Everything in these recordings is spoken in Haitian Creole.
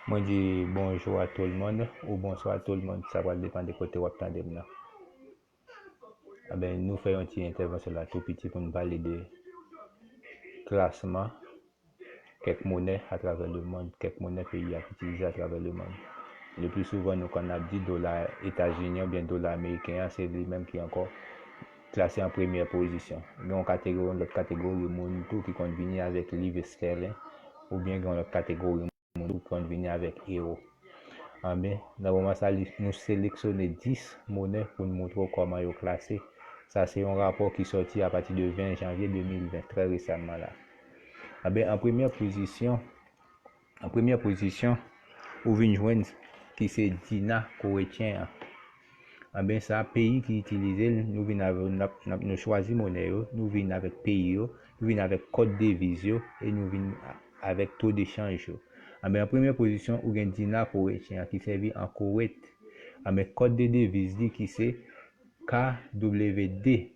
Mwen di bonjou a tout le monde ou bonswa a tout le monde, sa pral depan de kote wap tande m nan. Anben nou fè yon ti entèvansyon la tou piti pou nou pale de klasman kèk monè atravè le mond, kèk monè peyi ap itilize atravè le mond. Le pli souvan nou konn ap di dola etazinyen oubyen dola ameriken an se li menm ki ankò Klase an premyè pozisyon. Gen yon kategori yon lòt kategori moun tou ki konn vini avèk liv estèlen oubyen gen yon lòt kategori moun tou ki konn vini avèk ewo. Anben, nan moman sa li, nou seleksyone 10 monè pou n montre w kòman yo klase. Sa se yon rapò ki sòti apati de 20 janvye 2020, trè resamman la. Anben, an premyè pozisyon. An premyè pozisyon, ou vin jwenn ki se Dina koretyen an. Anben sa peyi ki itilize l, nou vin avè yo, nou chwazi monè yo, nou vin avèk peyi yo, nou vin avèk kòd deviz yo e nou vin avèk to de chanj yo. Anben an premyè pozisyon, ou gen Dina koretyen an ki sèvi an Kowet. Anben kòd de deviz li ki se KWD.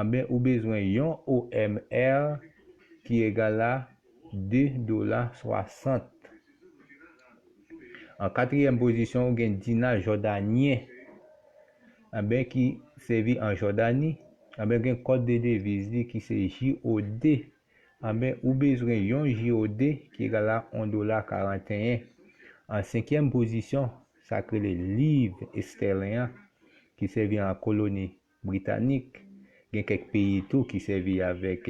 anben ou bezwen yon OMR ki egal a 2 dola 60. An katriyèm pozisyon ou gen dina jòdanyen anben ki sèvi an Jòdani anben gen kòd de deviz li ki se JOD anben ou bezwen yon JOD ki egal a 1 dola 41. An senkyèm pozisyon sa k rele liv estèlen an ki sèvi an koloni Britanik. Gen kèk peyi tou ki sèvi avèk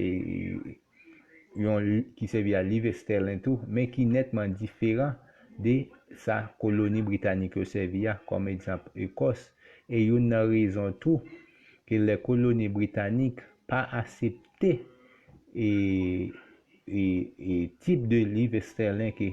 yon ki sèvi a liv estèlen tou men ki nètman diferan de sa koloni britanik yo sèvi a kòm egzanp Ekòs e youn nan rezon tou ke lè koloni britanik pa asepte e e tip de liv estèlen ke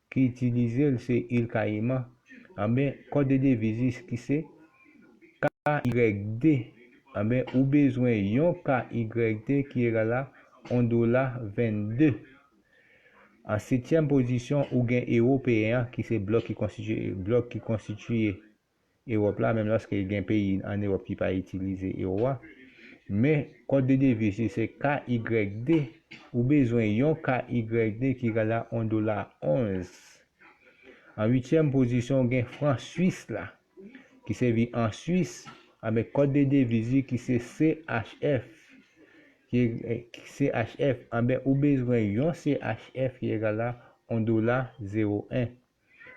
ki itilize l se Il Kayiman, anben kòd de deviz ki se KYD, anben ou bezwen yon KYD ki egal a 1 dola 22. An setyèm pozisyon ou gen Ewopeyen an ki se blòk ki konstitiye blòk ki konstitiye Ewòp la, menm lòske gen peyi an Ewòp ki pa itilize ewo a. Men, kòd de deviz li se KYD, ou bezwen yon KYD ki egal a 1 dola 11. An uityèm pozisyon ou gen fran swis la, ki sèvi an Swis, anben kòd de deviz li ki se CHF, ki CHF, anben ou bezwen yon CHF ki egal a 1 dola 01.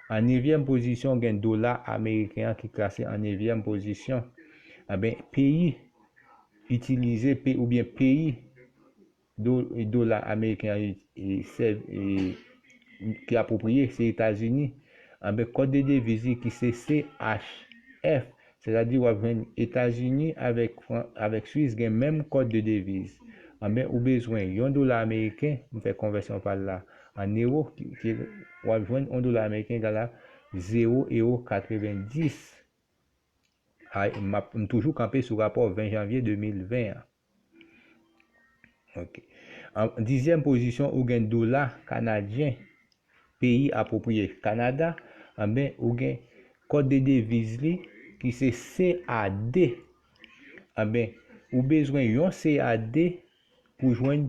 An nevyèm pozisyon gen dola ameriken an ki klase an nevyèm pozisyon. Enben peyi itilize pe oubyen peyi do dola ameriken an sèv ki apwopriye se Etazini. Enben kòd de deviz li ki se CHF Sètadi wap jwenn Etazini avèk Fran avèk Swis gen menm kòd de deviz. Anben ou bezwen yon dola ameriken, m fè konvèsyon pa l la an ewo ki wap jwenn 1 dola ameriken egal a 0 ewo 90. Ay map m toujou kanpe sou rapò 20 janvye 2020 an. Ok. An dizyèm pozisyon ou gen dola kanadyen peyi apwopriye Kanada, anben ou gen kòd de deviz li ki se CAD. Anben ou bezwen yon CAD pou jwenn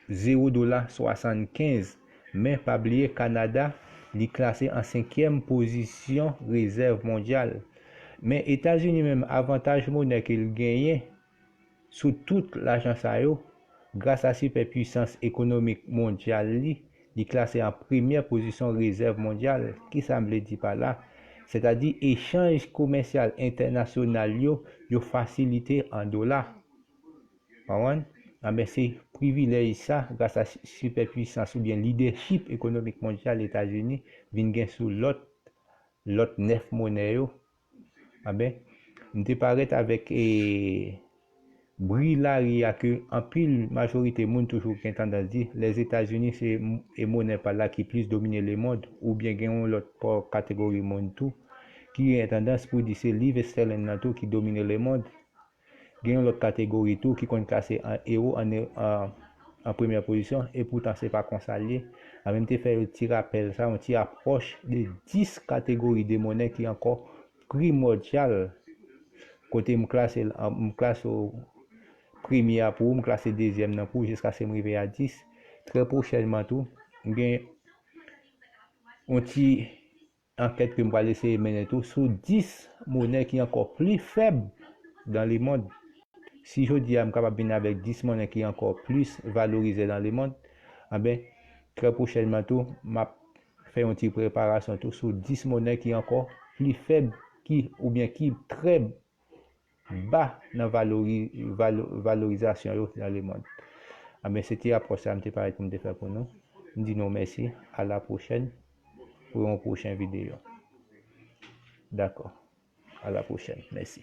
0 dola 75 men pa bliye Kanada li klase an senkyèm pozisyon rezèv mondyal. Men Etazini menm avantaj monè ke l genyen sou tout lajan sa yo, gras a sipè pwisans ekonomik mondyal li, li klase an premyè pozison rezèv mondyal, ki sa m vle di pa la? Sètadi echanj komèsyal entènasyonal yo, yo fasilite an dola. Konprann? Anben se privilèj sa, gras a sipè pwisans oubyen lidèchip ekonomik mondyal Etazini vin gen sou lòt lòt 9 monè yo, Amen. M te parèt avèk e bri lari a ke anpil majorite moun toujou gen tandans di Lèzetazini se e monè pa la ki plis domine lemond oubyen gen yon lòt pa kategori moun tou ki gen tandans pou di se liv estèlen nan tou ki domine lemond. Gen yon lòt kategori tou ki konn klase an ewo an an premyè pozisyon epoutan se pa konsa l ye. Anvi m te fè yon ti rapèl sa yon ti apwòch de 10 kategori de monè ki ankò primòdyal kote m klase l an m klase w premye a pou ou m klase dezyèm nan pou ou jiskase m rive a 10. Trè pwochènman tou m gen yon ti Ankèt ke m pral eseye mennen tou sou 10 monè ki ankò pli fèb dan lemond. Si jodi a m kapab vin avèk 10 monè ki ankò plis valorizè dan lemond, anben trè pwochènman tou m ap fè yon ti preparasyon tou sou 10 monè ki ankò pli fèb ki oubyen ki trè ba nan valorizasyon yo nan lemond anben se ti rapò sa mte pare poum te fè pou nou mdi nou mèsi a la pwochèn pou yon pwochen videyo dakò a la pwochèn mèsi.